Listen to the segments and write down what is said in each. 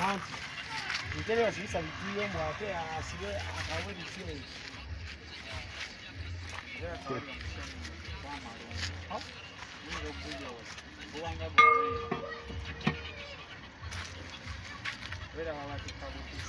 anti ntebe yasibisa bitiyo mbu ate asibe akawe bitiyo Wait a minute,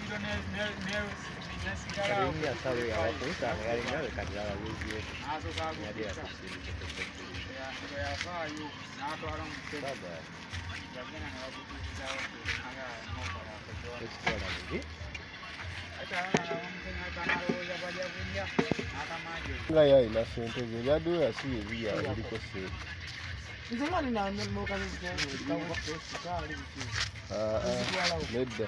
nga yalina sente ze byaddewo yasiba ebiya ebiriko sente nedda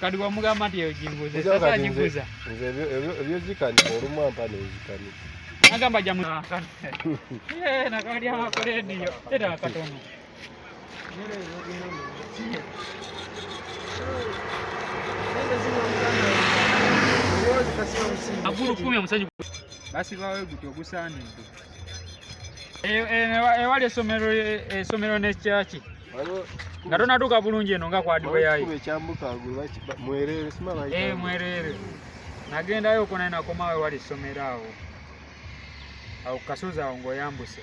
kati wamugamba nti eyo gimbuze sasa gimbuza nze ebyo ebyo ebyo zikani olumwa mpa ne zikani agamba jamu nakani eh nakali ama koledi yo era katono nere yo gino ndio agulu kumi omusajja basi bawe guti ogusaanidde ewali esomero esomero ne kyaki nga tonatuuka bulungi eno nga kwadiweyayo eh, mwerere nagendayo oko naye nakomawe wali ssomero awo awo kukasozi awo ngaoyambuse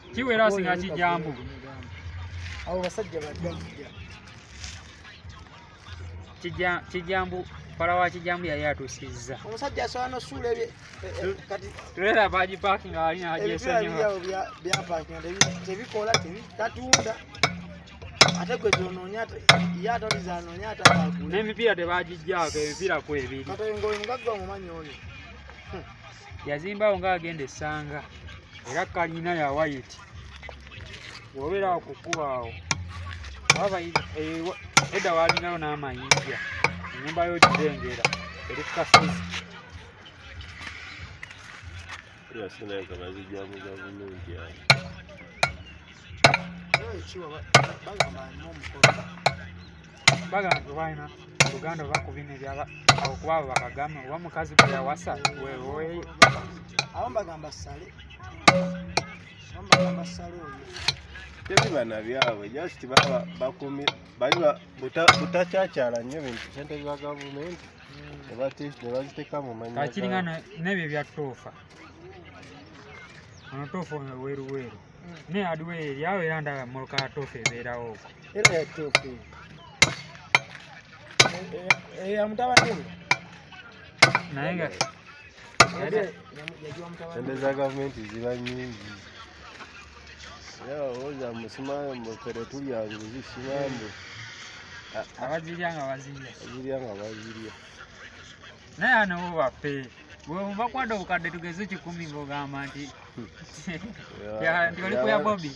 kiwera asinga kijambo abo basajja bajja kijambo pala wa kijambo yali atusizza omusajja asobola nosuula ebye eh, eh, kati tulera baji parking alina ajesonyiwa bya parking tebikola tatunda ate gwe gyonoonya ye ataliza anoonya atakagula n'emipiira tebagijjaako emipiira kwebiri kati ngoyo mugagga omumanyi oyo hmm. yazimbawo nga agenda essanga era kalina ya wayiti wobeera awo ku kkuba awo waba eh, edda walinayo n'amayinja enyumba yo gidengera eri ku kasozi Hey, chihuahua, bájame, no, mejor. bagamba nti balina oluganda oba ku bino ebyaba okuba abo bakagamba oba mukazi gwe yawasa weweeyo abo mbagamba sale abo mbagamba sale oyo tebibana byabwe just baba bakumi bali butakyakyaala nnyo bintu sente za gavumenti nebaziteeka mu manyi kakiringana nebyo byatoofa ono toofa weruweru Ne aduwe yawe era ndaba muluka tofu ebeerawo okwo. Era ya tofu. Eya mutabani we. Naye nga sente za gavumenti ziba nyingi. Era olowooza musimaayo mbu ffe tetulya nguzi simambu. Abazirya nga bazirya. Abazirya nga bazirya. naye anawo baffe bwemuva kwada obukadde tugeze kikumi ngaogamba nti nti oli kuya bobi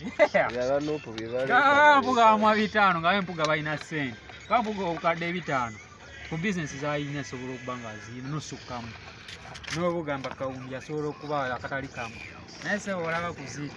mpuga wamwa bitaano nga bempuga balina sente kampuga obukadde ebitaano ku bizinesi zalina esobola okuba nga zirina nosukkamu n'obugamba kawumbi asobola okuba akatali kamu naye sebo olaba kuziri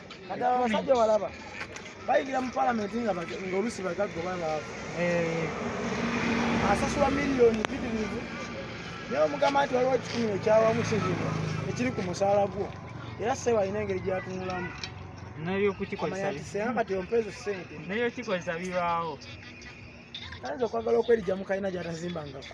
kati abo abasajja walaba bayingira mu palamenti nga olusi bagaggo babaavu eh. asasula miliyoni bidirivu naye omugamba nti waliwo ekikumi ekyawamu kizino ekiri ku musaala gwo era sebo alina engeri gyatunulamu nayokukikozesaati ompeezo sente naye okikozesa bibaawo ayinza okwagala okwerijamu kalina gyatazimbangako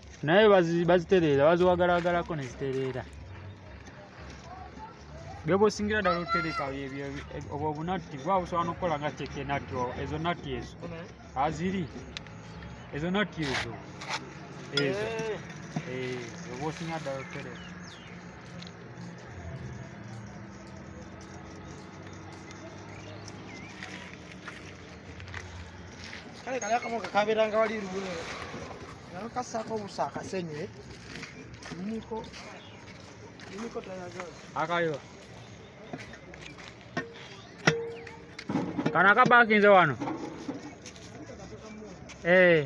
naye bazitereera baziwagalagalako nezitereera byobosingira ddala otereka obwo obunatti bwa busobola nokukola nga keke natti ezo natti ezo aziri ezo natti ezo ezo obwa osingira ddala otereka kale kali akamu kakabeeranga wali luwe nayo kasaako obusa akasenye niko niko tayagala akayo kana kabakinze wano eh hey.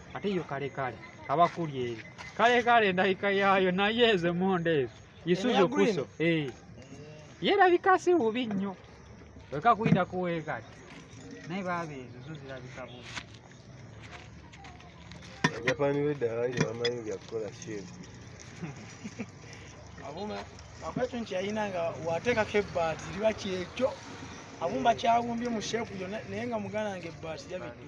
ate yo kale kale kaba kuli eri kale kale ndabika yaayo naye ezo emonda ezo isuzu kuso eh. yerabika si bubi nnyo weka kuyita kuweekati naye baaba ezo zo zirabika bubi japani weddala ire bamanyi byakukola sheri abuma akwekyo nti yalina nga wateekako ebbaati liba kyekyo abumba kyawumbye mu sheepu yona naye nga mugana nga ebbaati yabiddu